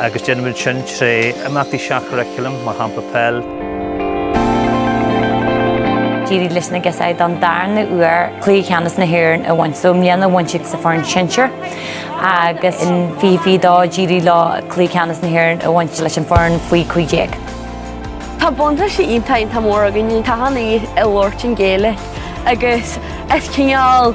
agus déanaimid sin tré imeachtaí seach-churriculum, mar shampla peil. D'éirigh leis na gasúir don darna uair cluiche ceannais na hÉireann a bhaint. So i mbliana bhain siad sa foireann sinsear agus in fiche fiche dó d'éirigh leo cluiche ceannais na hÉireann a bhaint leis an foireann faoi 15. Tá buntáistí iontach iontach mór againn. Tá an fhís i labhairt an Ghaeilge agus is cineál.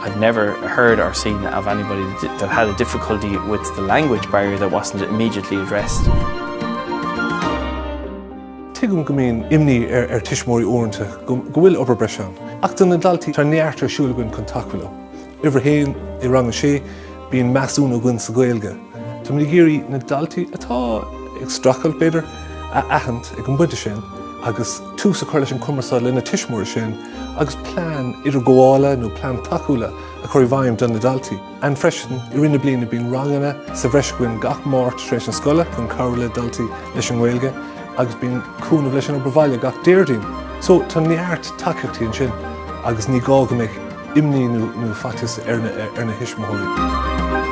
I've never heard or seen of anybody that had a difficulty with the language barrier that wasn't immediately addressed. Tuigim go mbíonn imní ar tuismitheoirí uaireanta go bhfuil obair breise ann. Ach do na daltaí tá neart ar siúl againn chun tacú leo. Uimhir a haon i rang a sé, bíonn measúnú againn sa Ghaeilge. Táimid ag iarraidh na daltaí atá ag streachailt, b'fhéidir, a aithint ag an bpointe sin agus tús a chur leis an gcumarsáid lena tuismitheoirí sin. agus plean idirghabhála nó plean tacúla a chur i bhfeidhm do na daltaí. Ansin freisin, i rith na bliana bíonn ranganna sa bhreis againn gach Máirt tar éis na scoile chun cabhrú le daltaí leis an nGaeilge agus bíonn cúnamh leis an obair bhaile gach Déardaoin. So tá neart tacaíochtaí ansin agus ní gá go mbeadh imní nó faitíos ar na thuismitheoirí.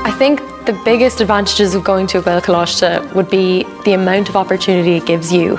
I think the biggest advantages of going to a Gaelcholáiste would be the amount of opportunity it gives you.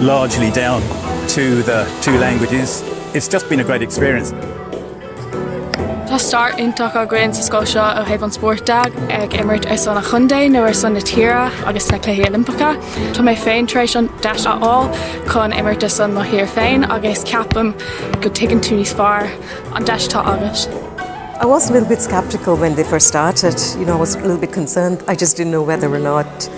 largely down to the two languages. It's just been a great experience. Tá stair iontach againn sa scoil seo ó thaobh an spóirt de, ag imirt ar son an chontae nó ar son na tíre agus sna Cluichí Oilimpeacha. Tá mé féin tar éis an deis a fháil chun imirt ar son mo thír féin agus ceapaim go dtuigeann tú níos fearr an deis atá agat. I was a little bit skeptical when they first started. You know, I was a little bit concerned. I just didn't know whether or not